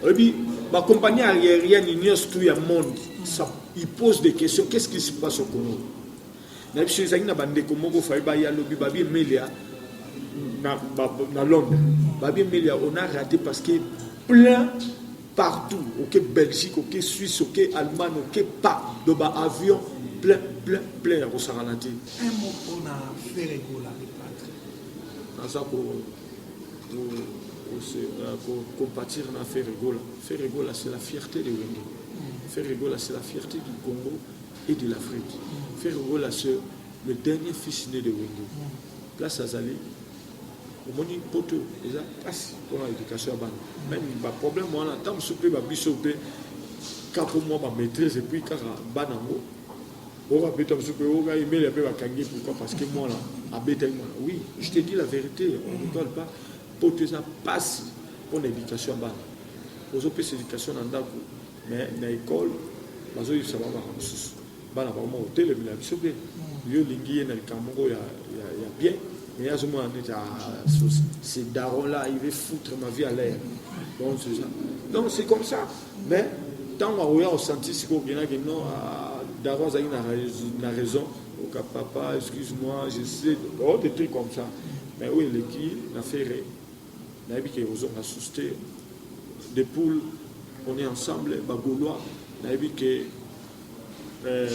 oyebi ba compagnie aérienne nyonso tout ya monde ça il pose des questions qu'est-ce qui se passe au Congo na biso ezali na bandeko moko faye baye alobi babi emelia na, na londres babi emelia on a raté parce que plein partout oke okay, belgique oke okay, suisse oke okay, allemagne oke pas do ba avion plein plein plein ya kosangana te un mot mpona feregola naza ko compatir na Ferre Gola. Ferre Gola, c'est la fierté de Wenge. Mm. Ferre Gola, c'est la fierté du Congo et de l'Afrique. Mm. Ferre Gola, c'est le dernier fils né de Wenge. Mm. Place Azali, omoni poto eza mpasi mpona éducation ya bana meme baproblème wana ntango mosusu mpe babiso mpe kaka mwa bamaîtrise epuis kaka bana yango Oka beta musu pe oka emelia pe bakangi pourquoi parce que mwana abetaki mwana oui je te dis la vérité on ne rigole pas poto eza pasi mpo na éducation ya bana ozopesa éducation na ndako mais na école bazoyebisa bango makambo mosusu bana bakoma kotelemela biso mpe mm. yo olingi ye na likambo moko ya bien mais azomona neti c'est daron là il veut foutre ma vie à l'air donc c'est comme ça mais ntango akoya kosanti sikoyo okenaki non ah, daro azalaki na raison oka papa excuse moi je sais oh, des trucs comme ça mais oyo eleki na ferre nayebi ke ozonga susu te de poule on est ensemble bagolois nayebi ke euh,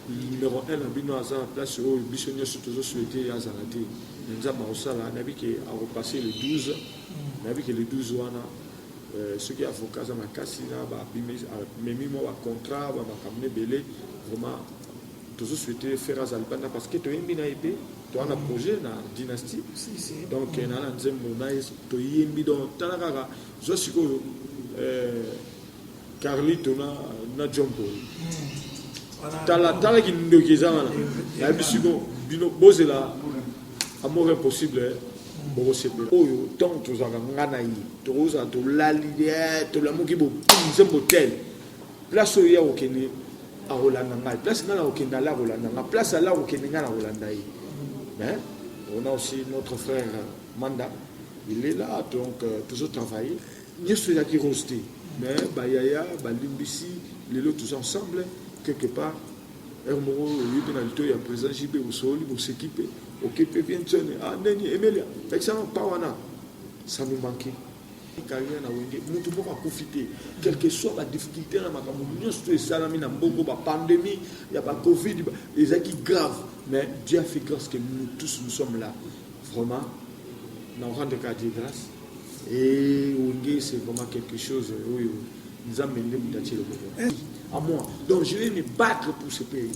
numéro 1 na bino aza na place oyo biso nyonso tozo souhaite azala te na nzambe akosala nayebi ke akopasse le 12 nayebi ke le 12 wana Soki avocat aza makasi na ba memi mwa ba contrat ba makambo n'ebele vraiment tozo souhaiter ferre aza libanda parce que toyembi na ye pe toza na projet na dynastie donc na na nzembo na ye toyembi donc tala kaka zwa sikoyo Carlito na na John Paul. Tala tala ki ndoki eza wana. Na bisu ko bino bozela amour impossible. Eh. bokosepela oyo ntango tozalaka nga na ye tokozala tolali eh, tolamuki bopunze motele place oyo ye akokende akolanda ngai place ngai nakokende ala akolanda ngai place ala akokende ngai nakolanda ye mais on a aussi notre frère manda il est là donc euh, toujours travailler Nioso eyaki rose te mais ba yaya ba limbisi lelo tous ensemble quelque part heure moko oyebi mpe na litoyi ya president JB osololi boseki mpe oke mpe bien tsone ah neni emelia lakisanga pa wana ça nous manquait carrière na wenge mutu moko akufi te quelque soit ba difficulté na makambo nyonso to esalami na mbongo ba pandemie ya ba covid ezalaki grave mais Dieu a fait grâce que nous tous nous sommes là Vraiment, na rendre ka Dieu grâce. Et Wenge, c'est vraiment quelque chose oyo Nzambe nde moto atie loboko. Eh, à moi. Donc je vais me battre pour ce pays.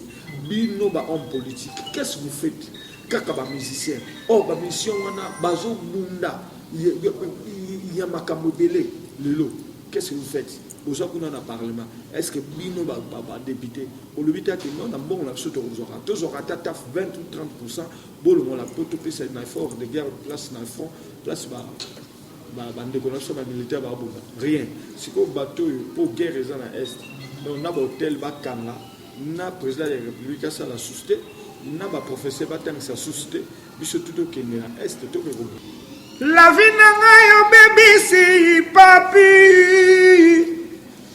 Bino ba homme politique, qu'est-ce que vous faites? Kaka ba musicien. Oh ba mission wana bazo bunda. Il y a makambo belé lelo. Qu'est-ce que vous faites? oza kuna na parlement est ce que bino badepute olobi te ake non na mbongo na biso tokozwaka tozwaka ata taf 20 ou 30 pourcent Bolongola poto pesa na effort de guerre place na front place ba bandeko na biso bamilitaire babunda rien sikoyo bato oyo mpo guerre eza na est donc na bahotel bakanga na président ya république asala susu te na baprofesseur batangisa susu te biso tu tokende na est tokoki ko lavi na ngai obebisi papi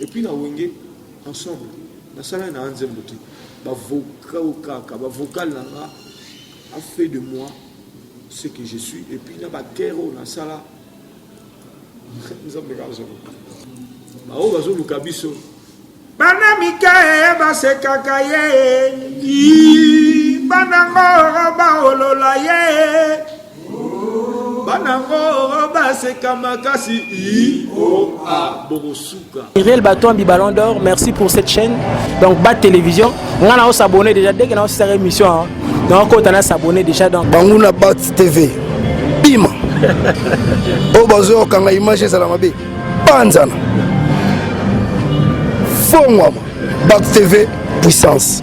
Et puis na wenge ensemble nasalaki na nzembo te bavocal kaka bavocal na nga a fait de moi ce que je suis et puis na bakere oyo nasala nzambe kaka azoluka baoyo bazoluka biso bana mike basekaka ye banango baolola ye bana ngo baseka makasi ioa bokosuka irel batombi ballon d'or merci pour cette chaîne donc ba télévision nga na osabonne déjà dès que na osisaka émission hein. na okota na s'abonne déjà donc banguna bat tv bima oyo bazoyokanga image ezala mabe panzana fongwama bat tv puissance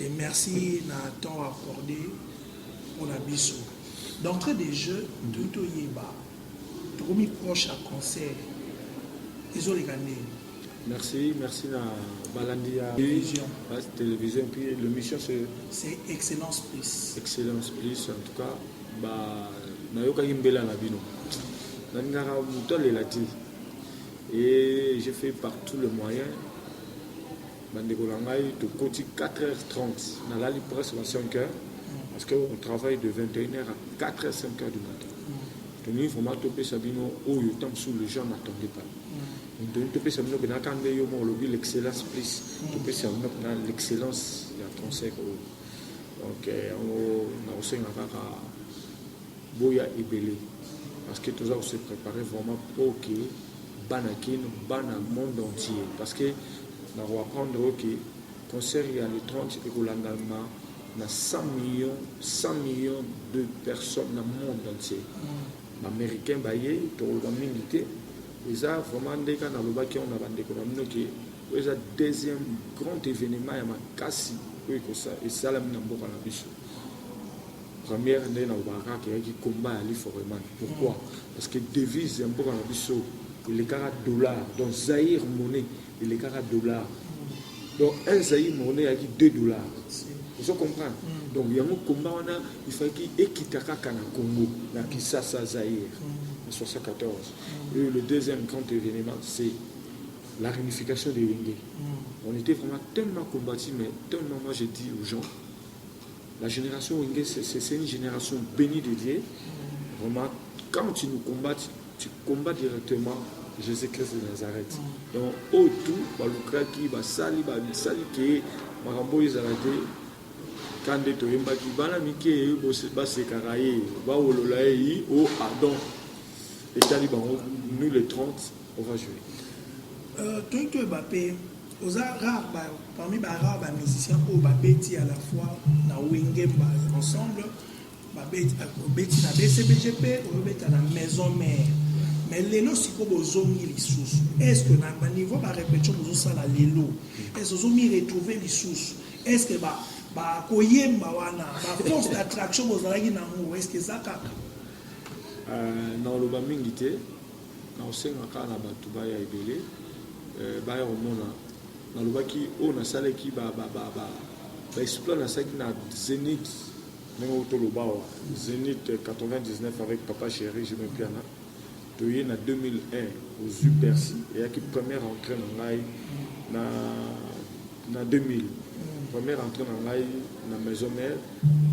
Et merci na temps accordé pona biso. D'entrée de jeu, toyi toyeba tokomi proche ya concert ezoleka ndenge Merci, merci na balandi ya Télévision. base télévision puis l'émission c'est c'est excellence plus excellence plus en tout cas ba nayokaki mbela na bino nalingaka moto alela te et j'ai fait par tous les moyens Ba ndeko na ngai tokoti 4h30 nalali presque ba 5h parce que on travaille de 21h à 4h 5h du matin. Tolingi vraiment topesa bino oyo tant sous les gens n'attendaient pas. Tolingi topesa bino bena kande yo mo olobi l'excellence plus topesa bino na l'excellence ya concert oyo. Donc yango na osenga kaka boya ebele parce que toza ko se préparer vraiment pour que bana kin bana monde entier parce que na ko apprendre yo ke concert ya le 30 ekolandama na 100 millions 100 millions de personnes na monde entier mm. ba américain baye tokoloba mingi te eza vraiment nde kaka nalobaki yango na bandeko na bino ke oyo eza deuxième grand événement ya makasi oyo esalami na mboka na biso Première nde nalobaka kaka eyaki combat ya Ali Foreman. Pourquoi? Parce que devise ya mboka na biso elekaka dollar. Donc Zaïre monnaie elekaka dollar. Donc un Zaïre monnaie eyaki 2 dollars. Vous comprenez? Mm. Donc yango combat wana il fallait ekita kaka na Congo, na Kinshasa Zaïre en 74. Mm. Et le deuxième grand événement c'est la réunification des Wenge. Mm. On était vraiment tellement combattus mais tellement moi je dis aux gens La generation wenge c'est une generation beni de Dieu vraiment quand tu nous combattes tu combats directement Jésus Christ de Nazareth mm. donc au tout balukaki basali basali ke makambo oyo ezala te ka nde toyembaki bana mike basekaka ye bawolola ye yi o oh, adon etali bango nous le 30 on va jouer euh, toyiki toyeba mpe Oza rare ba, parmi ba rare ba musiciens oyo babeti à la fois na Wenge ba ensemble babeti obeti na BCBG mpe obeta na maison mère mais lelo sikoyo bozongi lisusu est ce que na baniveau ba repetition bozosala lelo est ce que ozomi retrouver lisusu est ce que ba bakoyemba wana ba force d'attraction bozalaki nango est ce que eza kaka na oloba mingi te Nakosenga kaka na bato baya ebele, baya komona. Nalobaki oyo nasalaki, ba, ba, ba, ba, ba exploits nasalaki na Zenith, ndenge oyo toloba awa, Zenith 99 avec Papa Cheri, Jimmy Mpiana. Toye na 2001, ozwi Bercy, eyaki première entrée na ngai na, na 2000. Première entrée na ngai na Maison Mère,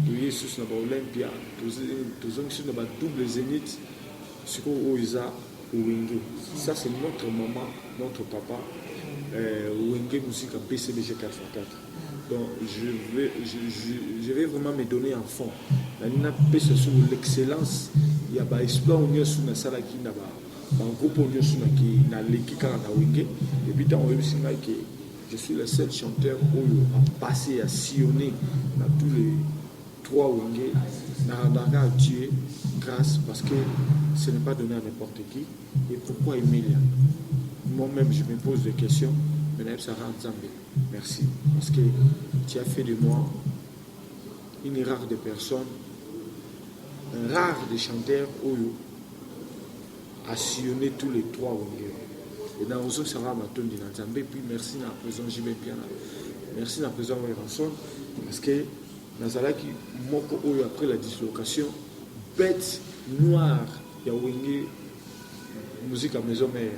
toye lisusu na ba Olympia, tozongi lisusu na ba double Zenith, Sikoyo oyo eza wenge ça c'est notre maman notre papa euh, wenge musique en PCBG 4 fois 4 donc je vais, je, je, je vais vraiment me donner en fond nani napesa sur l'excellence ya ba exploit oyo nyonso nasalaki na ba bagroupe oyo nyonso naleki kaka na wenge epuis ntango oyebisi ngai ke je suis le seul chanteur oyo apasse ya sillonne na tous les Trois wenge na Rabanga a tue grace parce que ce n'est pas donner à n'importe qui et pourquoi Emilia moi même je me pose des questions mais nayebi Sarah Nzambe merci parce que tu as fait de moi une rare de personnes un rare de chanteurs oyo a sillonné tous les trois wenge et na ozo Sarah matondi na Nzambe puis merci na président JB Piana merci na président Werrason parce que Nazalaki moko oyo après la dislocation bete noir ya wenge musique ya maison mère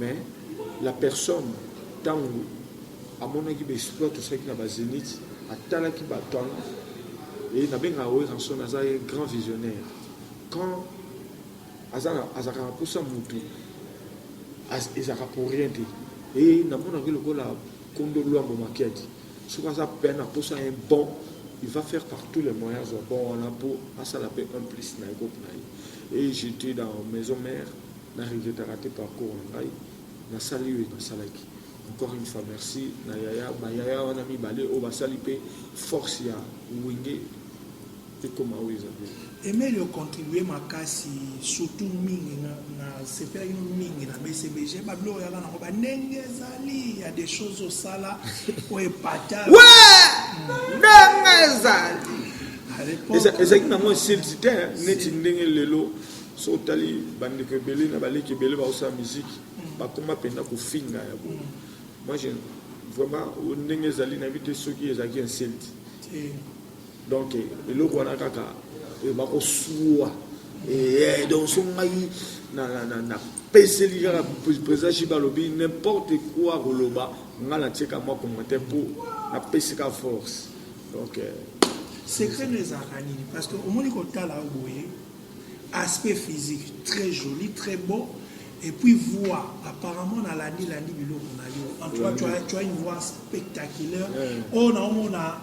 mais la personne ntango amonaki ba exploit tosalaki na ba zenith atalaki ba talent et nabengaka weranson aza ye grand visionnaire quand azalaka na mposa motu ezalaka pour rien te e namonaki lokola kondo lwambo makiadi soki aza pe na posa un bon il va faire par tous les moyens azwa bon wana mpo asala mpe un plus na ecope na ye et j'étais dans maison mère na regretaka te parcours na ngai nasali oyo nasalaki encore une fois merci na yaya bayaya wana mibale oyo basali mpe force ya wenge ekoma oyo eza bien Emeli o contribuer makasi surtout mingi na, na sepela kino mingi na BCBG ba bilo yaka nango ba ndenge ezali ya des choses osala o epata ouais hmm. ndenge ezali ezalaki nango esilisi te neti ndenge lelo so otali bandeko ebele na baleki ebele baosala miziki hmm. bakoma mpenza kofinga ya bo hmm. moi vraiment ndenge ezali nayebi te soki ezalaki insulte Donc eloko wana kaka eh, bakosua eh, donc so ngai napeseli kaka président shiba alobi n'importe quoi koloba nga natieka mwa commentaire mpo napesi ka force donc euh, secret no ezalaka nini parce que omoni kotala yo boye aspect physique très joli très beau et puis voix apparemment nalandi landi biloko na yo en tout cas tu as, tu as une voix spectaculaire oyo naomona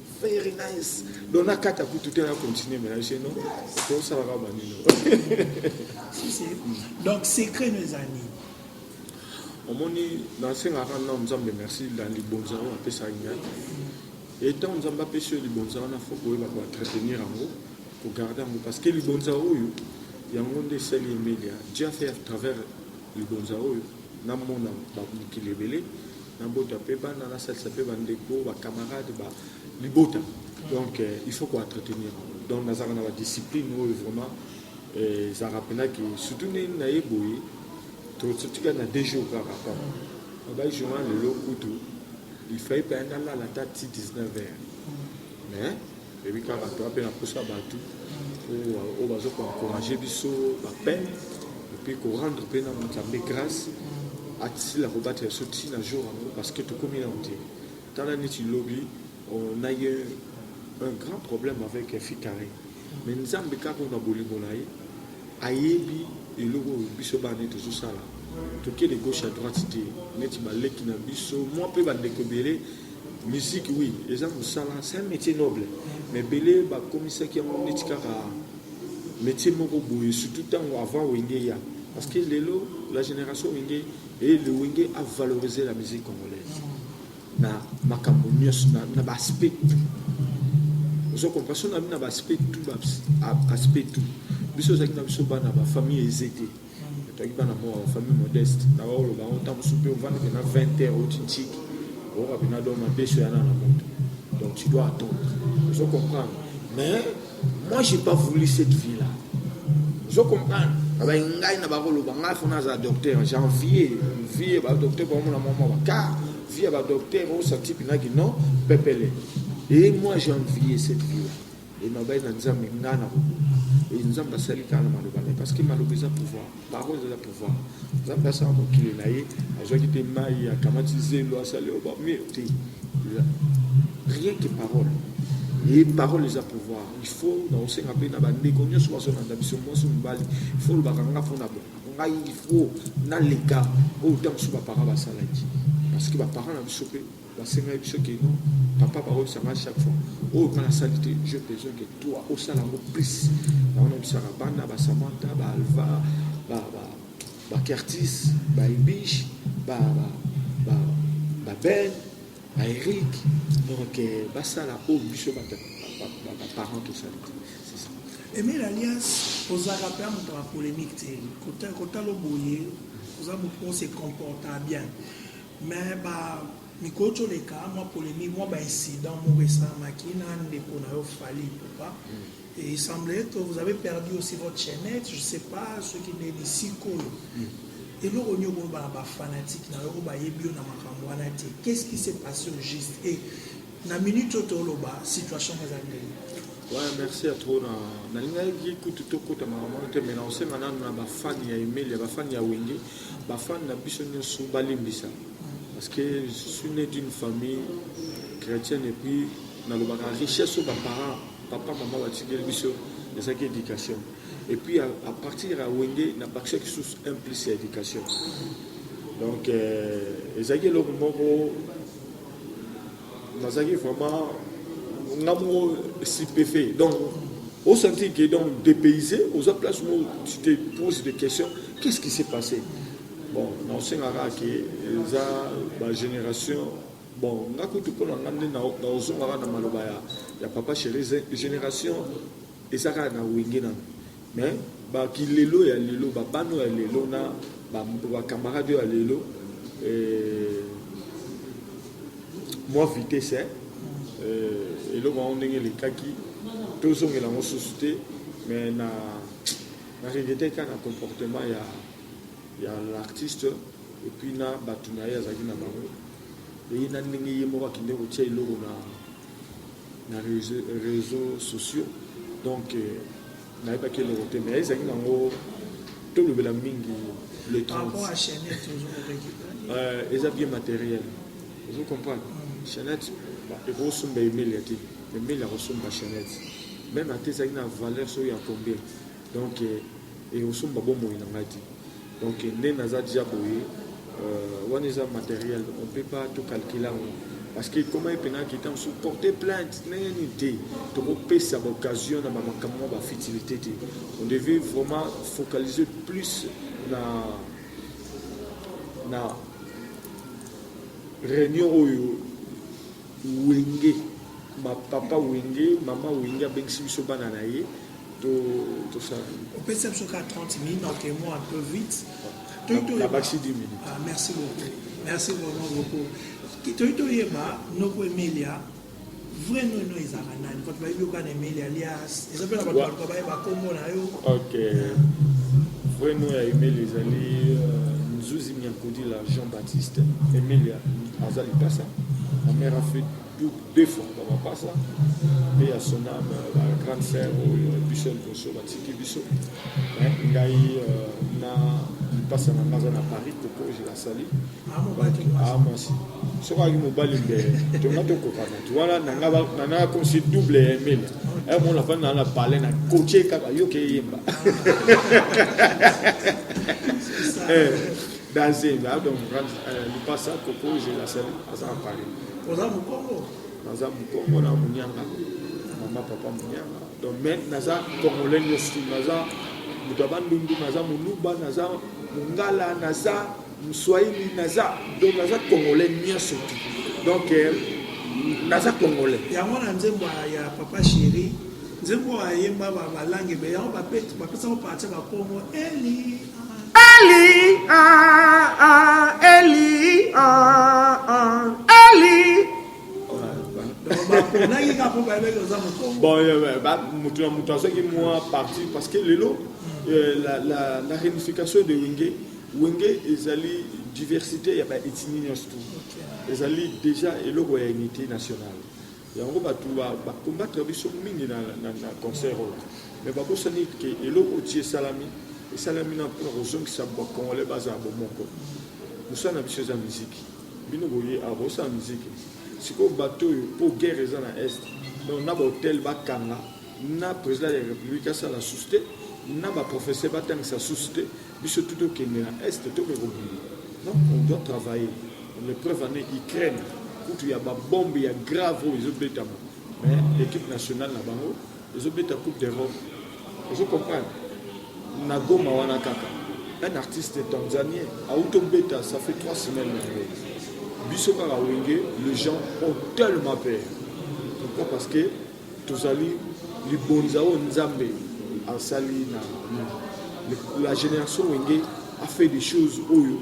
Very nice. Donc na kata kutu te na continuer mais chez nous to sala ka banino. Donc secret nous ani. Omoni na senga ka na Nzambe merci la libonza wa pesa ngai. Et tant Nzambe apesi libonza na faut ko ba ko entretenir yango, ko garder yango parce que libonza oyo yango nde esali Emilia. Dieu a fait à travers libonza oyo Namona ba mokili ebele, nabota pe bana, nasalisa pe ba ndeko, ba camarades, ba libota. Donc il faut ko entretenir yango. Donc nazalaka na ba discipline oyo vraiment ezalaka pena ke surtout nde na ye boye totika na deux jours kaka pa ba journal lelo kutu il fallait pe anda lala ta ti 19 heures mais Oyebi kaka toa mpe nakosa bato oyo bazo koencourage biso bapeine epuis korendre mpe na nzambe grâce asila kobatela biso ti na jour yango parce que tokomi na mote tala neti lobi on a eu un grand problème avec fikare mais nzambe kaka na bolingo na ye ayebi eloko oyo biso bana nde tozosala tokende gauche à droite te neti baleki na biso mwa mpe bandeko ebele Musique oui eza musala c'est un metier noble mais ebele bakomisaki yango neti kaka metier moko boye surtout ntango avant wenge ya parce que lelo la génération wenge et le wenge a valorisé la musique congolaise na makambo nyonso na, na baaspect tout ozo comprendre so na bino na baaspect tout baaspect tout biso ozalaki na biso bana bafamille eze te Nataki bana moko famille modeste na ba oloba ngo ntango mosusu mpe ovandi mpena 20 heures oti ntiki oyoka mpena do madeso yana na moto donc tu dois attendre ozo comprendre mais moi j'ai pas voulu cette vie là ozo comprendre abai ngai na bakoloba ngai fona aza docteur janvier vie ba docteur bamona mwa mwa bakar vie ya ba docteur osa tipi naki non pepele et moi janvier cette vie là Elobaki na Nzambe nga na kokoka. Et Nzambe asali kaka na maloba na ye parce que maloba eza pouvoir, parole eza pouvoir. Nzambe asala mokili na ye, azwaki te mai, akamati zelo, asali oyo bamir te. Rien que parole. Et parole eza pouvoir. Il faut na osenga mpe na bandeko nyonso bazolanda biso mwasi mobali, il faut olobaka nga mpo na bongo ngai il faut naleka oyo ntango mosusu baparent basalaki parce que baparent na biso mpe Basengaki biso que non, papa bakolisa nga chaque fois. Oyo nga nasali te, j'ai besoin que toi osala yango plus. Yango nayebisaka bana ba Samantha, ba Alva, ba ba ba Curtis, ba Ibish, ba ba ba, ba Ben, ba Eric. Donc eh, basala oyo biso ba ba, ba, ba parents tosali te. C'est ça. Emile Alias, ozalaka mpe moto ya polemique te kotala boye oza moto oyo se comporta bien Mais ba mikolo toleka mwa polemique mwa ba incident moko esalamaki na ndeko na yo Fally Ipupa mm. et il semblait que vous avez perdu aussi votre chaînette je sais pas soki nde lisikoyo mm. eloko nini okoloba na ba fanatique na yo oyo bayebi yo na makambo wana te qu'est-ce qui s'est passé au juste et Na minute oyo toloba situation ezali ndenge. Ouais, merci à trop na nalingaki kutu tokota makambo wana te mais naosenga nanu na bafani ya emelia bafani ya wenge bafani na biso nyonso balimbisa parce que je suis né d'une famille chrétienne et puis nalobaka richesse oyo baparent papa mama batikeli biso ezalaki éducation et puis à, à partir ya wenge nabakisaki susu un plus ya éducation donc euh, ezalaki eloko moko nazalaki vraiment nga moko stupefait donc au senti que donc dépaysé oza place moko tu te pose des questions qu'est ce qui s'est passé bon naosengaka ke eza bagénération bon nga kutu mpo na nga nde naozongaka na maloba ya, ya papa chéri génération Eza kaka na wenge nanu mais ba kilelo ya lelo ba bana oyo ya lelo na ba camarade oyo ya lelo eh, mwa vitesse eh, eh eloko yango ndenge elekaki tozongela yango susu te mais na na regrete kaka na comportement ya ya l'artiste et puis na bato na ye azalaki na bango eye na ndenge ye moko akende kotia eloko na na reseaux sociaux donc euh, nayebaki eloko te mais ezalaki nango tolobela mingi le 30 euh, eza bien matériel ozo comprendre mm. chanette ekosomba emelia te emelia akosomba chanette même ata ezalaki na valeur soki ya combien donc et osomba bomoi na ngai te donc nde naza deja boye euh, wana eza matériel on peut pas tout calculer yango parce que ekoma ye mpena kita mosusu porte plainte ndenge nini te tokopesa baoccasion na bamakambo mwa bafutilité te on devait vraiment focaliser plus na na réunion oyo Wenge ba papa wenge maman wenge abengisi biso bana na ye to to ça opesa biso ka 30 minutes en témoin un peu vite la baxi 10 minutes ah, merci beaucoup merci vraiment beaucoup toyi toyeba noko emelia vrai nono ezalaka nani bato bayebi oka na emelia lia eza mpe na bato baluka bayeba nkombo na yo ok vreno ya emile ezali euh, nzuzi miankudila jean baptiste emilia aza lipasa ma mère a fait deux fois na mapasa mpe ya sona ba grande sœur oyo biso liboso batiki biso ngai euh, na lipasa na ngai aza na paris koko je la sali ah, mwasi soki ayaki mobali nde tonga tokokana wana nanga nanga kosi double ya emile eh, mon la fana na parle na coache kaka yo ke yemba eh danse la donc euh, le passa coco je la salle aza parler oza mukongo naza mukongo na munyanga mama papa munyanga donc mais naza congolais nyonso naza moto ya bandundu naza moluba naza mongala naza Mswahili naza donc naza congolais nyonso te donc euh, naza congolais yango na nzembo ya papa chéri nzembo ayemba balange be yango bapesango parti bakongo eli eli ah, ah, eli ah, eli moto na moto azwaki mwa parti parce que lelo euh, la réunification de wenge Wenge ezali diversite ya ba ethnie nyonso tu ezali deja eloko ya unité nationale yango bato bacombattre ba biso mingi na, na, na concert oyo me babosani ke eloko ti esalami esalami na mpona kozongisa bacongolais bazala bomoko mosala na biso eza miziki bino boye awa bosala miziki sikoyo bato oyo mpo guerre eza na est donc na bahotel bakanga na president ya republique asala susu te na ba professeur batangisa susu te biso tu tokende na est toke kobima donc on doit travailler le preuve ane ukraine kutu ya babombe ya grave oyo ezobetama mais l'équipe nationale na bango ezobeta coupe d'europe ozo comprendre na goma wana kaka un artiste tanzanien auti obeta ça fait trois semaines na yango biso kaka wenge le gens ont tellement peur pourquoi parce que Tozali libonza oyo Nzambe asali na la generation wenge a fait des choses oyo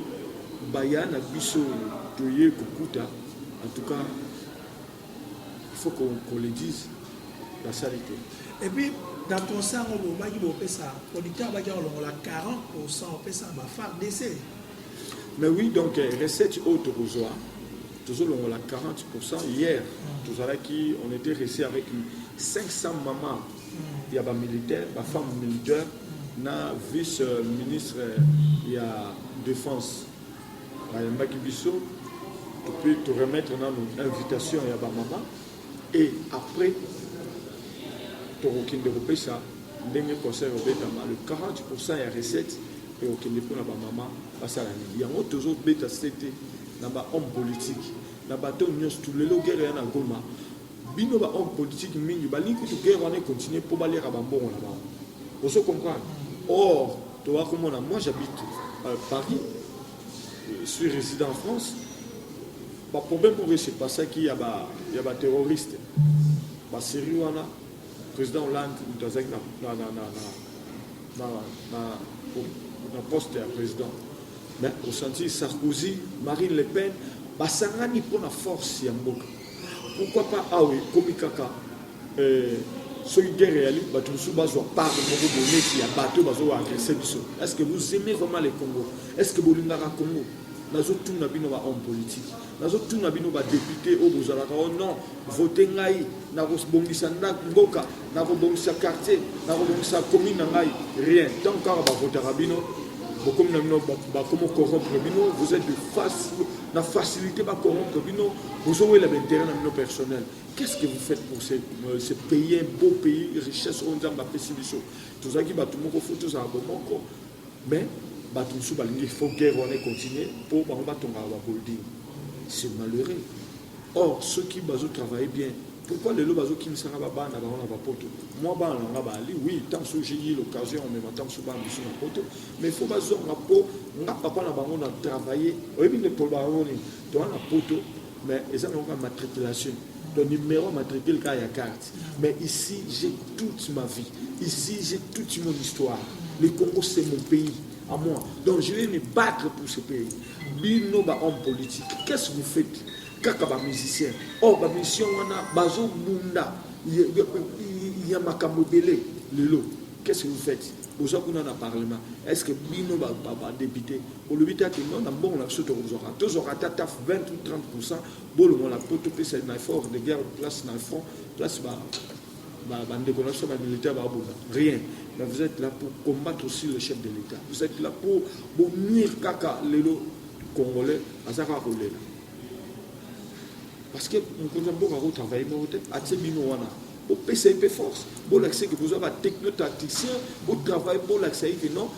baya na biso toye kokuta en tout cas il faut qu'on qu le dise basali te et puis na concert yango bobaki bopesa producteur abaki akolongola 40 pourcent opesa bafar dc mais oui donc recette oyo tokozwa tozo longola 40% hier mm. tozalaki on était resté avec 500 maman mm. ya ba militaire ba femme militaire mm. na vice euh, ministre ya défense bayambaki biso puis to remettre nanu invitation ya ba maman et après tokokende kopesa ndenge conseil obetama le 40% ya recette ekokende mpona bamama basala nini yango tozobeta sete na ba homme politique na bato oyo nyonso tu lelo guerre ya na goma bino ba homme politique mingi balingi kutu guerre wana econtinue mpo baliaka bambongo na bango ozo comprendre or toa komona moi j'habite euh, paris euh, suis résident en france baproblème oyo se passaki ya baterroriste baserie wana président hollande moto azalaki na poste ya président Mais o sentir Sarkozy, Marine Le Pen ba sangani mpo na force ya mboka. Pourquoi pas awa ekomi kaka euh, soki guerre eyali bato mosusu bazwa part moko boneti ya bato bazo agresse biso est ce que vous aimez vraiment le congo est ce que bolingaka congo nazotuna bino bahomme politique Nazo tuna bino ba depute oyo bozalaka o oh non vote ngai nakobongisa ndako mboka nakobongisa quartier nakobongisa commune na ngai rien ntango kaka bavotaka bino bokomi na bino bakomi corrompre bino vous êtes de face na facilité bacorrompre bino bozowela baintérêt na bino personnel qu'est-ce que vous faites pour ce, euh, ce pays un beau pays richesse oyo nzambe apesi biso tozalaki bato moko fo tozala bomoko Mais batu mosusu balingi il faut guerre wana e continuer po bango batongaka ba bulding. C'est malheureux. Or soki bazo travailler bien pourquoi lelo bazo kimisa nga ba bana bango na ba poto? Moi bana na nga ba ali oui tant mosusu j'ai eu l'occasion ya komema tant mosusu bana biso na poto mais il faut bazonga po nga papa na bango na travailler oyebi nde poloba yango nini? Toza na poto mais eza na yoka matriculation donc numéro matricule kaka ya carte mais ici j'ai toute ma vie ici j'ai toute mon histoire le congo c'est mon pays à moi donc je vais me battre pour ce pays bino bahomme politique qu'est ce que vous faites kaka bamusicien or oh, bamusicien wana bazobunda ya makambo ebele lelo qu'est ce que vous faites boza kuna na parlement est ce que bino badepute Olobi te ati non na mbongo na biso tokozwaka tozwaka ata taf 20 ou 30 pourcent bolongola mpo topesa na effort de guerre place na front place ba bandeko na biso bamilitaire babunda rien mais vous êtes là pour combattre aussi le chef de l'état vous êtes là pour bonir kaka lelo congolais aza kaka kolela parce que mokonzi ya mboka akotravaille moko te atie bino wana bopesa ye mpe force bolakisa eke boza batechnotacticien botravaille bolakisa ye ke non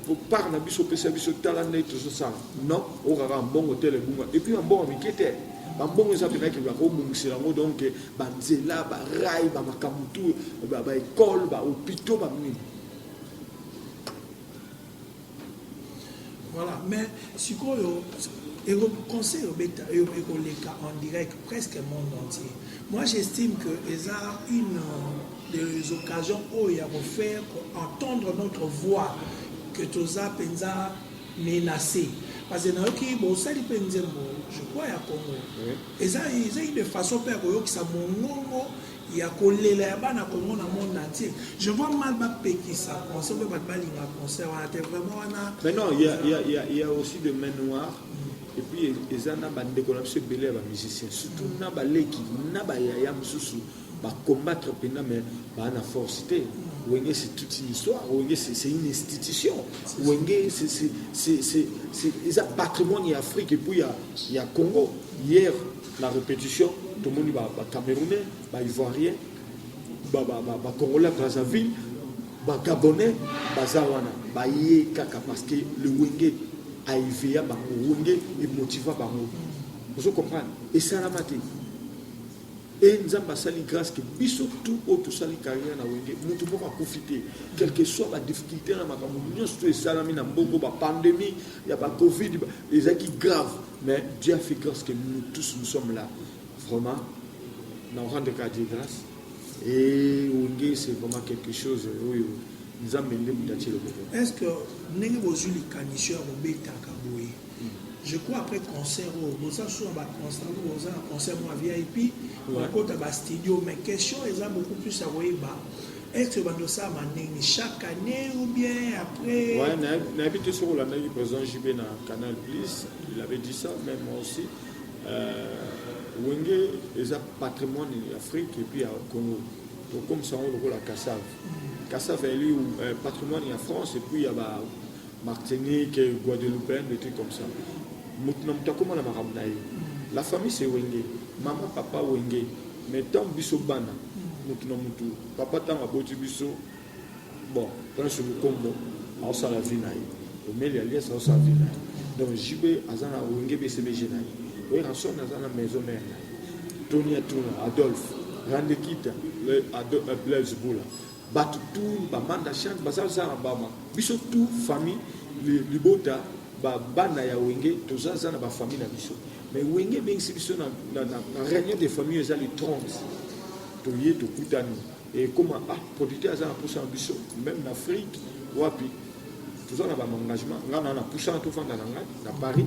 Po part na biso opesa biso tala nde tozo sala non oyoka kaka mbongo tel ebunga epuis ba mbongo mike te ba mbongo eza pena kilo ako bongisela yango donc ba nzela ba rail ba makambo tout ba ba ecole ba hopitaux ba nini Voilà, mais sikoyo et le conseil est en direct presque monde entier. Moi, j'estime que y a une euh, des occasions oyo ya ko faire ko entendre notre voix que toza penza menace parce que nayoki bosali mpe nzembo je crois ya congo eza eza une façon mpe ya koyokisa mongongo ya kolela ya bana congo na monde entier je vois mal bapekisa concert mpe bato balinga concert wana te vraiment wana mais non il y a, il y a, il y a, il y a aussi de main noire et puis eza na bandeko na biso ebele ya bamusicien surtout na baleki na bayaya mosusu ba combattre pena mais ba na force te wenge c'est toute une histoire wenge c'est une institution wenge c'est eza patrimoine ya afrique et puis ya, ya congo hier la répétition tomoni ba, ba camerounais ba ivoirien ba, ba, ba, ba congolais brazzaville ba gabonais baza wana baye kaka parce que le wenge aeveya bango wenge emotiva bango ozo comprendre esalama te Et Nzambe asali grâce que biso tout oyo tosali carrière na wenge mutu moko akufi te quelque soit ba difficulté na makambo nyonso to esalami na mbongo ba pandemie ya ba covid ezalaki grave mais Dieu a fait grâce que nous tous nous sommes là vraiment na rendre ka Dieu grâce et wenge c'est vraiment quelque chose oyo Nzambe nde mutu atie loboko est-ce que ndenge bozwi likanisi ya kobetaka boye je crois après concert oyo oh, boza sur ba concert oyo boza na concert mwa vip bakota ba studio mais question eza beaucoup plus ya koyeba est-ce bando ça manini chaque année ou bien après ouais na habite sur la ndaki président JB na Canal Plus il avait dit ça même moi aussi euh, Wenge eza patrimoine ya Afrique et puis ya Congo donc comme ça on lokola Kassav Kassav eli euh, patrimoine ya France et puis ya ba Martinique, Guadeloupeenne, des trucs comme ça. Mutu na mutu akoma na makambo na ye. La famille c'est Wenge. Maman, papa, Wenge. Mais tant biso bana, mutu na mutu, papa tanga boti biso, bon, Prince Mukombo, aosala vie na ye. Omeli alias aosala vie na ye. Donc JB aza na Wenge BCBG na ye. Werrason aza na maison mère na ye. Tony Atuna, Adolphe, Randekita, Blaise Boula. batu tout ba manda chante baza zara bama biso tout famille libota ba bana ya wenge toza za na ba famille na biso mais wenge ebengisi biso na, na, na, na réunion de famille eza le 30 toye tokutani ekoma ah producteur aza na mposa na biso même na afrique wapi toza na ba engagement nga na na pusana to fanda na nga na Paris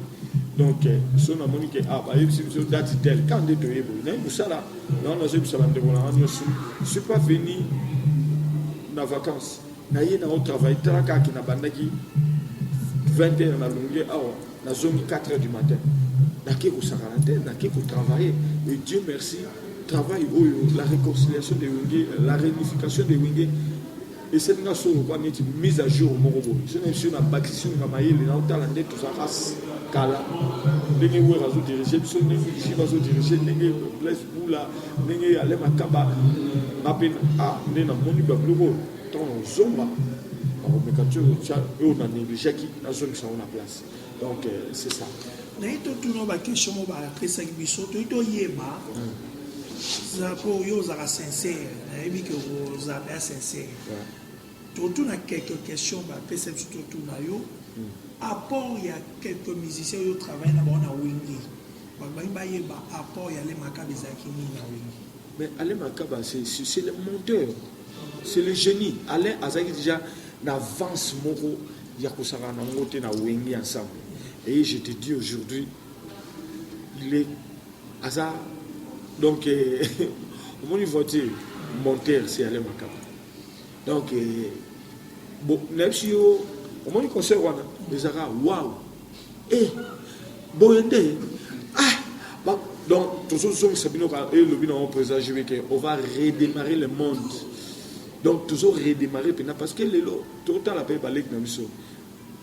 donc euh, so na moni ke ah ba yebisi biso date tel quand de toye boye na musala na na zo bisala ndeko na ngani osu suis pas venu na vacances na ye na au travail tala ka ki na bandaki 20h na longue awa na zongi 4h du matin na ke ko sakana te na ke ko travailler et Dieu merci travail oyo la réconciliation de Wenge la réunification de Wenge esali nga solo kwa neti mise à jour moko boye so na biso na bakisi nga mayele na otala nde tozalaka kala ndenge wer azo dirige biso ndenge jive azo dirige ndenge blaise bula ndenge ale makaba nga mpe a nde namoni babiloko oyo ntango ozonga nakomeka ti otya oyo na negligeaki nazongisa yango na place donc euh, c'est ça naye totuna baquestion mo bapesaki biso toyi toyeba zapo yo ozalaka sincere nayebi ke oza mpe asincere totuna quelques questions bapesa biso totuna yo hmm. apport ya quelques musiciens oyo travaille na bango na wenge babangi bayeba apport ya le makaba ezalaki nini na wenge mais alain makaba c'est le monteur c'est le génie alain azalaki déjà na avance moko ya kosaka na yango te na wenge ensemble et je te dis aujourd'hui il est aza donc omoni voiture monter si ale makama donc bo nayebi si yo omoni concert wana ezalaka waw e eh, boye nde ah donc tozozongisa bino ka elobi eh, na yango président jbk on va redémarrer le monde donc tozo redémarrer mpena parce que lelo totala mpe baleki na biso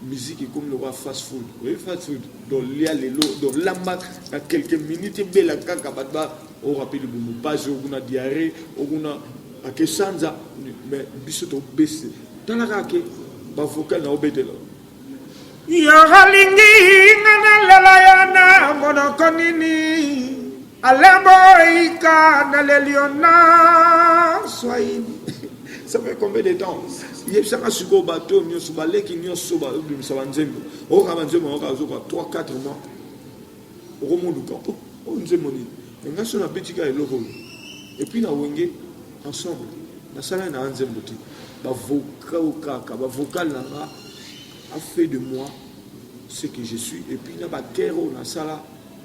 musique ekomi lokola fast food oyebi fast food donc lia lelo donc lamba na quelques minutes ebela kaka bato ba orape libumu mpasi okuna diarre okuna ake sanza mais biso tobese tala kaka ke bavocal na obetela yo olingi nga nalela yo na monoko nini Alain Boika na lelio na swahili ça fait combien de temps yebisaka sikoyo bato oyo nyonso baleki nyonso babimisa banzembo okoka banzembo yango azoka 3 4 mois okomoluka oyo oh, oh, nzembo nini nga so nabetika eloko oyo epuis na wenge ensemble nasalai na nzembo te bavocal kaka bavocal na nga a fait de moi ce que je suis epuis na bakere oyo nasala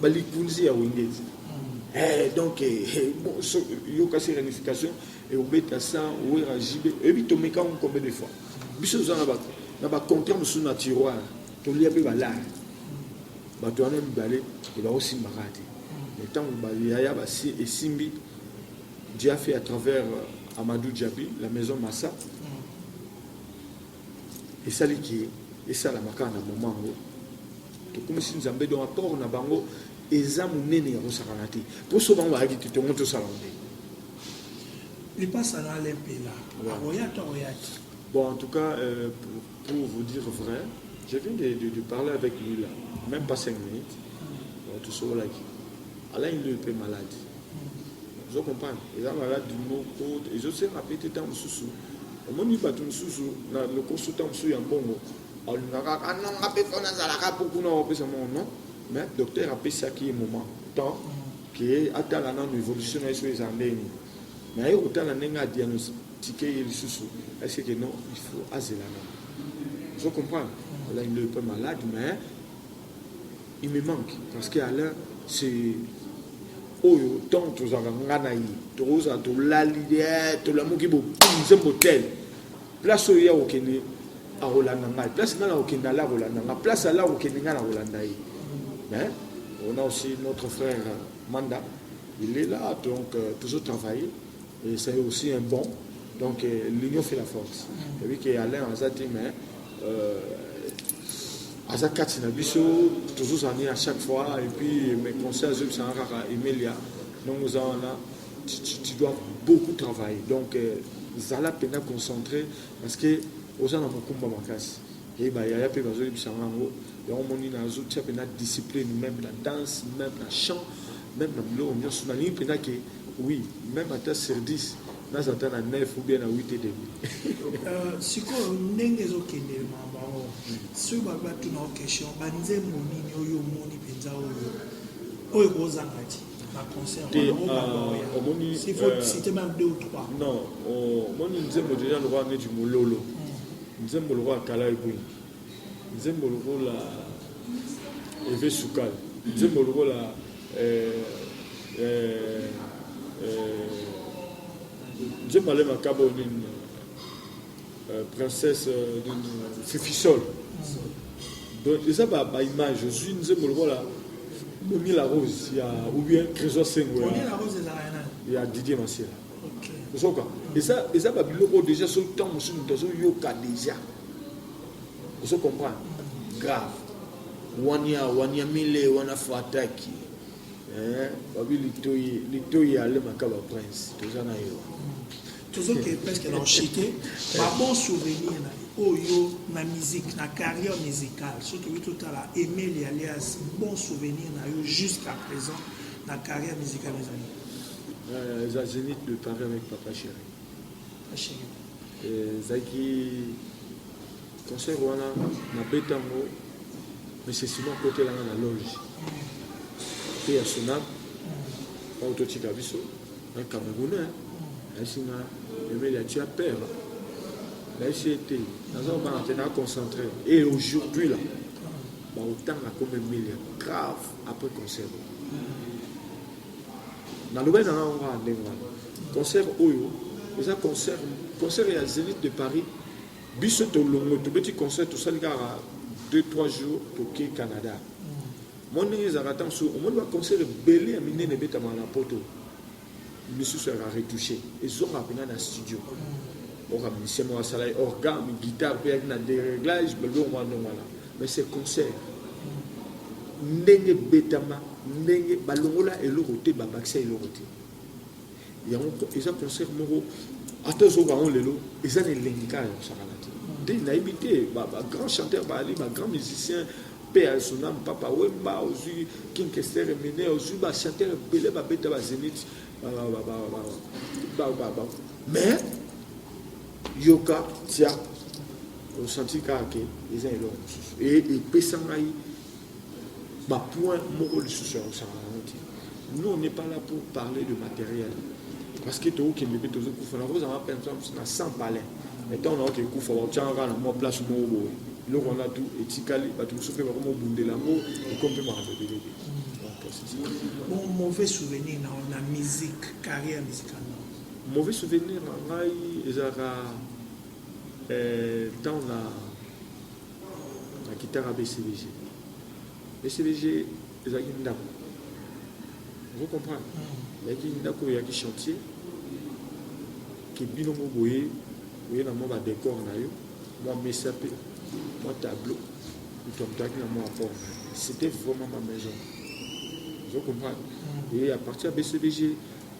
ba likunzi ya wengezi eh, donc eh, eh bon, so, yoka se ramification et obeta sans wera jibe ebi tomeka on combien de fois biso za na ba na ba contrat musu na tiroir to lia pe balare bato wana mibale e ba osimbaka te mais tango ba yaya ba si esimbi Diafi à travers euh, Amadou Diaby la maison Massa esali ke esalama kaka na moma yango tokumisi nzambe donc apport na bango eza monene ya kosakana te mposo bango bayaki te tongo tosala nde lipasa na alempela akoya to akoya te bon en tout cas euh, pour, pour vous dire vrai je viens de, de, de parler avec lui là même pas 5 minutes mm. tosololaki alain lui mpe malade ozo comprendre eza maladi moko ezosenga mpe te ntango mosusu omoni bato mosusu na lokoso ntango mosusu ya mbongo alingaka anonga mpe mpo nazalaka mpo kuna opesa mongo non mais docteur apesaki ye moment temps ke atala nano évolution na ye soki eza ndenge nini mais aye kotala ndenge adiagnostike ye lisusu eseke non il faut azela nano ozo comprendre alai nde mpe malade mais il me manque parce que Alain c'est oyo ntango tozalaka nga na ye tokozala tolali eh, tolamuki nzembo tel place oyo ye akokende akolanda ngai place ngai nakokende ala akolanda ngai place ala akokende ngai nakolanda ye mais on a aussi notre frère manda il est là donc euh, toujours travailler Et c'est aussi un bon. Donc euh, l'union fait la force. Et puis que Alain Azati, mais euh, aza kati na biso tozozani à chaque fois et puis mes conseils azobisanga kaka emelia ndongo oza wana tu, tu, tu dois beaucoup travailler donc euh, zala mpenza concentré parce que oza na mokumba makasi ye bayaya mpe bazoyebisanga yango yango omoni nazotia mpenza discipline même na danse même na chant même na biloko nyonso nalingi mpenza ke Oui meme ata sur 10 naza ata na 9 ou bien na 8 et demi. Euh, sikoyo ndenge ezokende makambo yango soki bato batuna o question banzembo nini oyo omoni mpenza oyo oyo ekozanga ti omoni omoni nzembo deja lokola neti mololo hmm. nzembo lokola kala ebwingi Nzembo lokola Eve Sukal, nzembo lokola eh, eh, eh, nzembo ale makabo nini eh, princesse eh, nini Fifisol donc eza ba, ba image ozwi nzembo lokola Boni la Rose ya ou bien Trésor Sengo ya, ya Didier Masela ozoka eza eza ba biloko deja so temps mosusu moto azoyoka deja ozo comprendre grave wania wania mile wana fataki eh, babi litoi litoi ya le makaba prince toza na yo tozoke presque na oshite babon souvenir na oyo na musique na carrière musicale soki tokoki totala emeli alias bon souvenir na yo jusqu'à présent na carrière musicale ezali Euh, eza zenith de paris avec papa chéri euh, ezalaki concert wana nabeta yango mesesima akotelanga na loge mpe ya sonab oyo totika biso na camerounais ayesi nga emeli ya tia père nayesi ete naza kobanga te naa concentré et aujourd'hui là baotanga comme emeli ya grave après concert nalobaki na ngai wana ndenge wana concert oyo eza concert concert ya zenith de paris biso tolongwe tobeti concert tosali kaka 2-3 jours toke canada mwa ndenge ezalaka ntango mosusu omoni baconcert ebele ya minene ebetamaka na poto misusu yaka retouche ezongaka mpena na studio oka musicien moko asala ye orgame guitare mpe yaki na dereglage biloko mwa ndenge wana Mais ce concert ndenge ebetama ndenge balongola eloko te babakisa eloko te yango eza concert moko ata ozoka yango lelo eza na elengi kaka ya kosakana te nde nayebi te bagrand chanteur baali bagrand musicien mpe ya sonam papa wemba ozwi kinkester emine ozwi bachanteur ebele babeta bazenit mais Yoka tia osanti kaka ke eza eloko mosusu e epesa ngai bapoint moko lisusu ya kosanga yango te nous on n'est pas là pour parler de matériel parce que tokokende mpe tozokufa nakozanga mpe na sans palais mais ntango nayoka ekufa bakotyanga kaka na mwa place moko boye eloko wana tu etikali bato mosusu mpe bakoma obundela yango ekomi mpe makambo ebele te mauvais souvenir na musique carrière musicale Mauvais souvenir na ngai ezalaka eh, temps na na kitaka BCBG. BCBG ezalaki ndako. Vous comprenez? Mm. Ezalaki ndako ya ki chantier ki bino mo boye boye na mwa ba décor na yo mwa mesa pe mwa tableau moto amutaki na mwa apport c'était vraiment ma maison vous comprenez mm. et à partir ya bcbg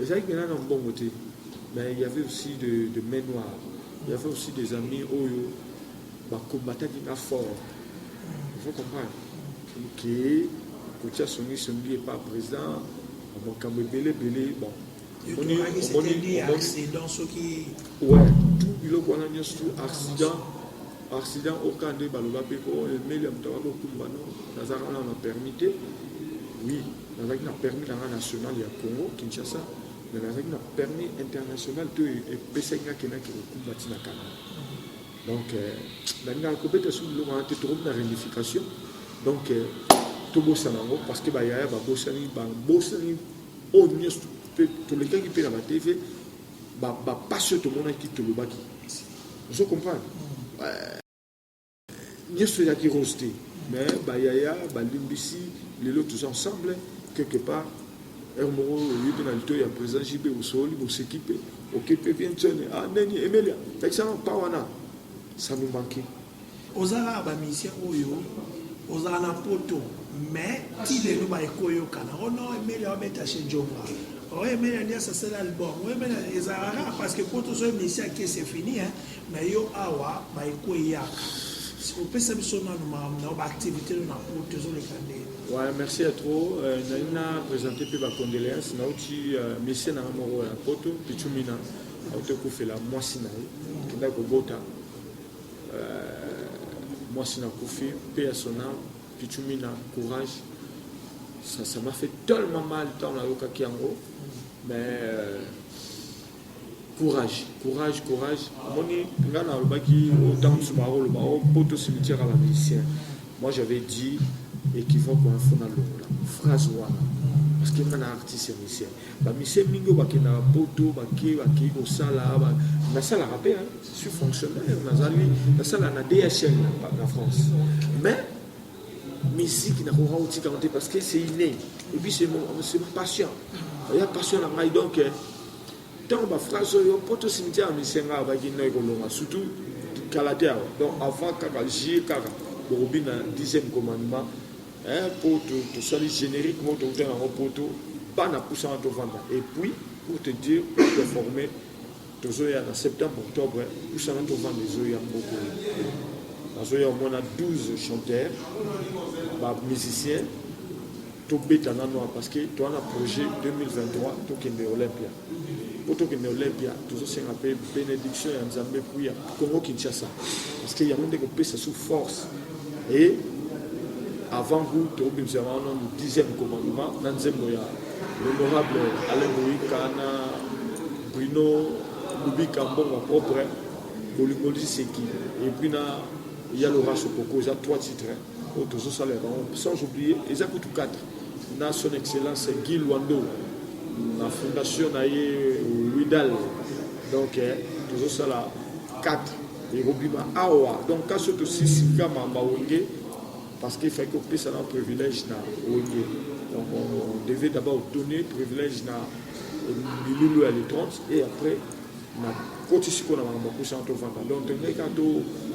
Ezalaki mpenza na mbongo te, mais il y avait aussi de, de main noire. Il y avait aussi des amis oyo ba combattaki nga fort. Il faut comprendre que kotia songi songi epa président makambo ebele ebele bon omoni omoni ouais tout biloko wana nyonso tout accident Accident au cas nde baloba pe ko emelia moto abaki okumba no nazalaka nano na permis te oui nazalaki na permis na nga national ya congo kinshasa mais nazalaki na permis international to epesaki nga kendaki kokumba ntina kanga donc nalingaka euh, kobeta soki biloko wana te tokomi na réunification donc euh, tobosana yango parce que bayaya babosani babosani oyo oh, nyonso tolekaki mpe na batv bapasse oyo tomonaki tolobaki ozo comprendre euh, nyoso ya kirose te mais bayaya balimbisi lelo tous ensemble quelque part heure moko oyebi na lito ya président jb osololi boseki mpe oke mpe vientione a ah, neni emelia lakisana mpa wana ça nous manquait Oza kaka ba musicien oyo ozala na poto mais ti lelo ba ekoyokana oh non emeli abeta chez Jova oh emeli alias asala album oh emeli ezala kaka parce que poto so emisi ake c'est fini hein mais yo awa ba ekoyaka opesa biso nanu makambo na ba activité no na poto ezoleka nde Ouais, merci à trop. Euh, Naina présenté puis ma condoléance. Nauti, euh, monsieur na moro ya poto, pichumina. Auto kufela mwasi na ye. Kenda kobota. Euh, mwasi na kufi pe ya sona pichumi na courage ça ça m'a fait tellement mal tant na yokaki yango mais euh, courage courage courage omoni ngai nalobaki ntango mosusu bakoloba o poto cimetière ya bamusicien moi j'avais dit équivoque wana fona longola phrase wana parce que nga na artiste ya musicien Ba mise mingi oyo bakendaka poto bake bakei kosala nasalaka mpe suis fonctionnaire nazali nasalaka na DHL na France mais miziki nakoka kotika yango te parce que c'est inné et puis c'est mon passion ya passion na ngai donc ntango baphrase oyo mpo tosimitiya na misenga abaki nai kolonga surtout kala te awa donc avant kaka jie kaka bokobina dixième commandement Hein po to to sali generique mo to uta na ngo poto bana pousa to vanda et puis pour te dire pour te former tozoya na septembre octobre pousa na to vanda ezoya mboko nazoya au moins na 12 chanteurs ba musiciens tobeta nano parce que toa na projet 2023 tokende olympia mpo tokende Olympia tozosenga mpe benediction ya Nzambe mpo ya Congo Kinshasa parce que yango nde kopesa sous force et avant goût tokobimisa yango wana le dixième commandement na nzembo ya l'honorable Alain Boyika na Bruno Lubika Mbongo propre bolingo liseki et puis na ya Laura Sokoko eza trois titres oyo tozosala ya bango sans oublier eza kutu quatre na son excellence Guy Luando na fondation na ye Widal donc eh, tozosala 4 ekobima awa donc kasi oyo tosisi kama mawenge parce qu'il fallait kopesa na privilège na wenge donc on devait d'abord donner privilège na milulu ya le 30 et après nakoti sikoyo na makambo ya kusa wana tovanda donc tolingaki kaka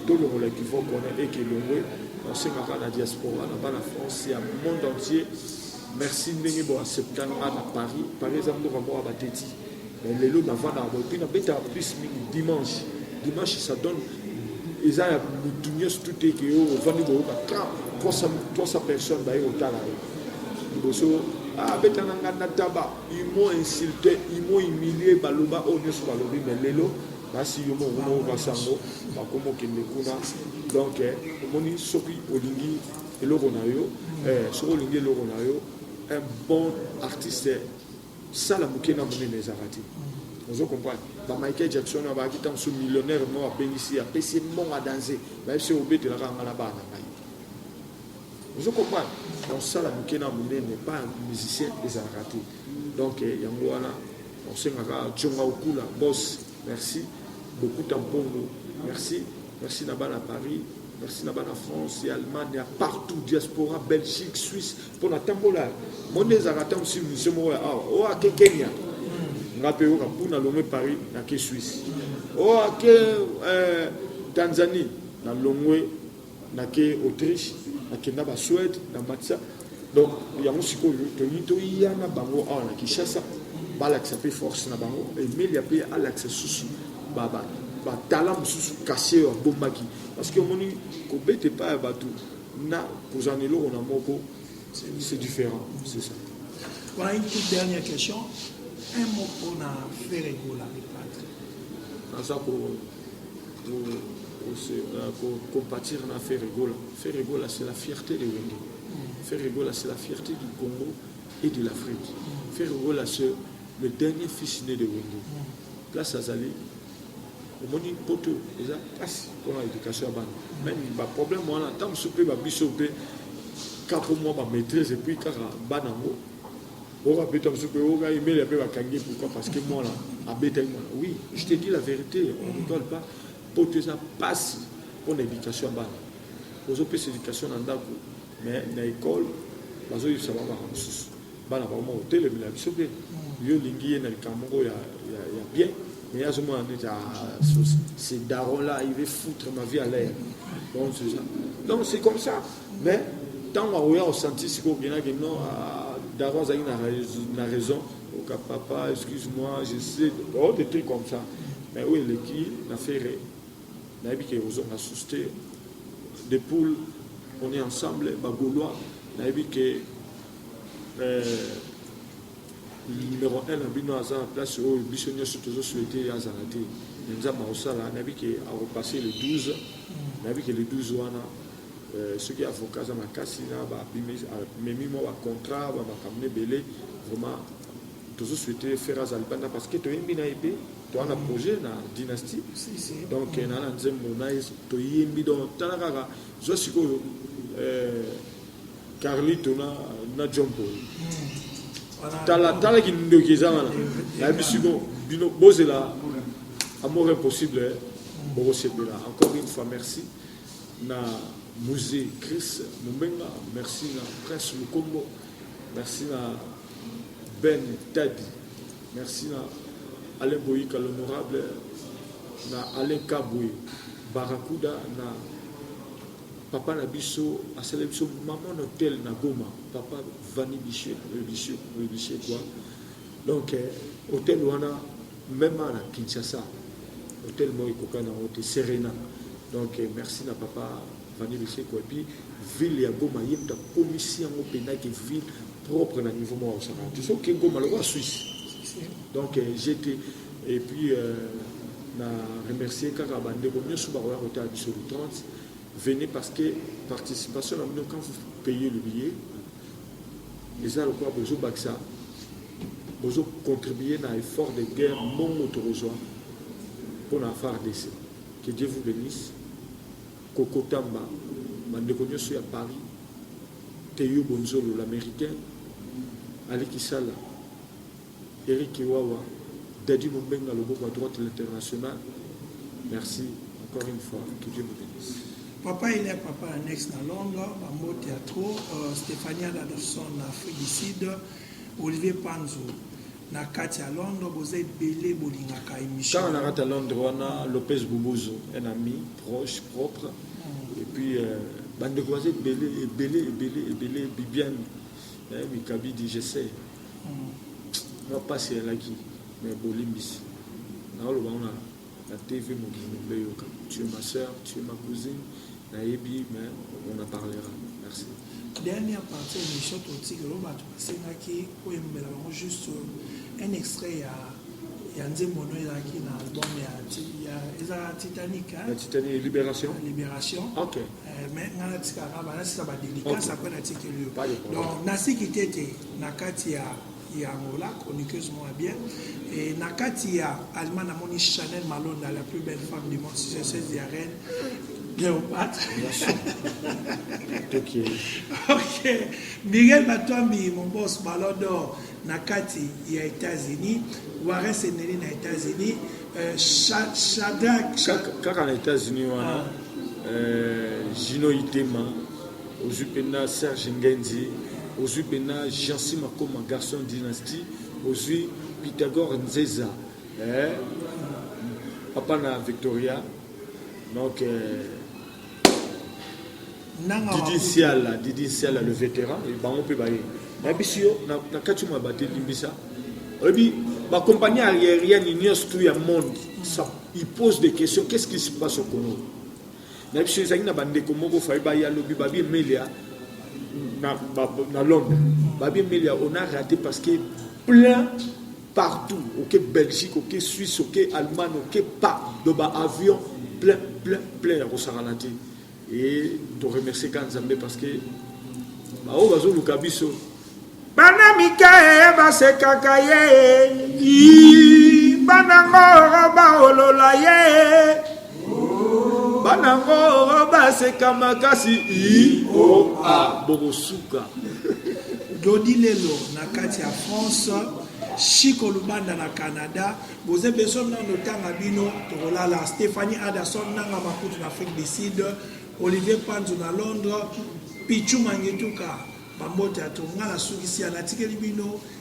tolongola ekivoke wana eke elongwe nasengaka na diaspora na bana france ya monde entier merci ndenge boaccepta nga na paris paris eza mboka moko ya bateti mais lelo navandaka boye mpe nabetaka plus mingi dimanche dimanche ça donne eza ya motu nyonso tute eke yo ovandi boyoka 300 personnes baye kotala yo liboso abetana ah, nga na taba Ils m'ont insulté, ils m'ont humilié, baloba oyo nyonso balobi mais lelo basi yo moko moko basi yango bakoma okende kuna donc eh, omoni soki olingi eloko na yo eh, soki olingi eloko na yo un bon artiste sala moke na monene ezalaka te ozo comprendre ba michael jackson abaki ntango so millionnaire moko abengisi apesi mbongo adanse bayebisi obetelaka nga na bana ngai ozo comprendre donc sala moke na monene pa musicien ezalaka te donc eh, yango wana osengaka conga okula bos merci bokuta mpongo merci merci na bana paris merci na bana france ya allemagne ya partout diaspora belgique suisse mpo na tambola monde ezalaka ntango si musicien moko ya awa oyo ake kenya nga mpe yoka mpo nalongwe paris nake suisse oyo ake eh, tanzanie nalongwe nake autriche nakenda ba suède na matisa donc yango sikoyo tolingi toya na bango awa na kinshasa balakisa mpe force na bango emelia mpe alakisa susu batala mosusu kasi oyo abombaki parce que omoni kobeta epai ya bato na kozala na eloko na moko c'est différent c'est ça voilà une toute dernière question un mot mpona ferregola le patre naza ko compatir na Ferregola. Ferregola, c'est la fierté de Wenge. Ferregola, c'est la fierté du Congo et de l'Afrique. Ferregola, c'est le dernier fils né de Wenge. Place Azali, omoni poto eza mpasi mpona éducation ya bana meme baproblème wana ntango mosusu mpe babiso mpe kaka mwa bamaîtrise epuis kaka bana yango Oyo abeta mususu pe oyo ngai mele pe bakangi pourquoi parce que mwana abetaki mwana oui je te dis la vérité on ne rigole pas poto eza pasi mpona éducation ya bana ozopesa éducation na ndako mais na école bazoyebisa bango makambo mosusu bana bango moko otelemela biso mpe yo olingi ye na likambo moko ya bien mais ye azomona neti ce daron là il veut foutre ma vie à l'air donc c'est comme ça mais ntango akoya osanti sikoyo okenaki non ah, daro azalaki na raison oka papa excuse moi je sais oh, des trucs comme ça mais oyo eleki na ferre nayebi ke ekozonga susu te de poule on est ensemble bagolois nayebi ke euh, numéro 1 na bino aza na place oyo biso nyonso tozosouete azala te me nzambe akosala nayebi ke akopasse le 12 nayebi ke le 12 wana Soki avocat aza makasi na ba memi mwa ba contrat ba makambo na ebele vraiment tozo souhaiter Ferre aza libanda parce que toyembi na ebe toa na projet na dynastie donc na na nzembo na ye toyembi donc tala kaka zwa sikoyo euh, Carlito na na John Paul tala tala kindoki eza wana nayebi siko bino bozela amour impossible bokosepela encore une fois merci na musee Chris Mumbenga, merci na Prince Mukombo, merci na Ben Tadi, merci na Alain Boyika l'honorable, na Alain Kabwe Barakuda, na papa na biso asala biso maman hotel na Goma, papa Vani Bichekwa, donc eh, hotel wana Meme awa na Kinshasa hotel moko ekokani na yango te Serena. Donc merci na papa Vanny Lusheko et puis ville ya Goma ye moto akomisi yango mpenza ke ville propre na niveau moko akosaka te soki Goma lokola Suisse. Donc euh, j'étais et puis euh, na remercier kaka bandeko nyonso bakoya kotala biso le 30 venez parce que participation na bino quand vous payez le billet Eza lokola bozo bakisa bozo contribuer na effort de guerre mbongo tokozwa pona FARDC. Que Dieu vous benisse. Koko Tamba, bandeko nyoso ya Paris, Teyo Bonzolo l'americain, Ali Kisala, Eric Kiwawa, Daddy Mumbenga loboko ya droite l'international merci encore une fois que Dieu vous benisse. Papa il est papa annexe na Londres, ba mbote ya trop, euh, Stephanie Adadson na Afrique du Sud, Olivier Panzo na kati ya Londres boza ebele bolingaka émission. Kaka na kati ya Londres wana Lopez Bubuzo, un ami proche propre mm. et puis euh, bandeko baza ebele ebele ebele ebele Bibiane eh, Mikabidi je sais nga pasi elaki me bolimbisi naoloba ngo na tv mokili mobimba eyoka tu es ma soeur tu es ma cousine nayebi me on a parlera merci dernière partie ya émission totikelo bato basengaki koyembela bango juste un extrait ya ya nzembo no ezalaki na album ya ezalaka titanic titanic libération libération ok Eh, mais nga natikaka banasisa badelicace apres natikeli yo donc nasiki te te na kati ya ya angola chroniqueuse moko bien e na kati ya allemagne namoni chanel malonda la plus belle femme du monde 16 ya reine Cléopâtre. ok. Miguel Batwambi, mon boss, Ballon d'Or. Na kati ya Etats Unis. Wares Emery na Etats Unis. Shadrack. Kaka na Etats Unis wana. Ah. Euh, Gino Itema. Ozwi mpenza Serge Ngenzi. Ozwi mpenza Jansi Makoma, Garçon Dynastie. Ozwi Pythagore Nzeza. Eh? Papa na Victoria. Donc. Euh, Didi Siala, Didi Siala le vétéran, bango mpe baye. Nayebisi yo na kati mwa bate limbisa. Oyebi ba compagnie aérienne nyonso tout ya monde ça il pose des questions qu'est-ce qui se passe au Congo na biso ezalaki na bandeko moko fayi baya lobi babi emelia na, na londres babi emelia on a raté parce que plein partout oke belgique oke suisse oke allemagne oke pa do ba avion plein plein plein ya kosakana te e toremercie ka nzambe parce que baoyo bazoluka biso bana mike basekaka ye banango baolola ye bana ngo baseka makasi ioa bokosuka dodi lelo na kati ya france chiko lubanda na canada boze beso nano tanga bino tokolala stephanie aderson nanga makutu na afrique du sud olivier panzo na londres pichu mangetuka bambote ya tonga nasukisi ya natikeli bino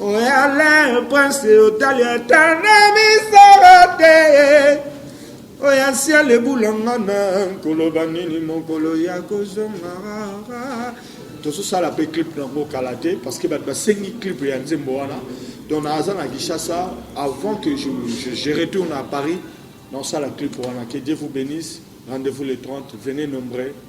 Oyale prince otali ata na misala te oya siala ebulanga na koloba nini mokolo ya kozongara tozosala mpe clip nango kala te parce que bato basengi clip ya nzembo wana donc naza na kinshasa avant que je, je, je retourne à paris naosala clip wana que dieu vous bénisse rendez-vous le 30 venez nombreux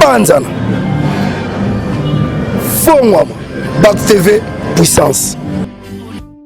panzana fongwama bac tv puissance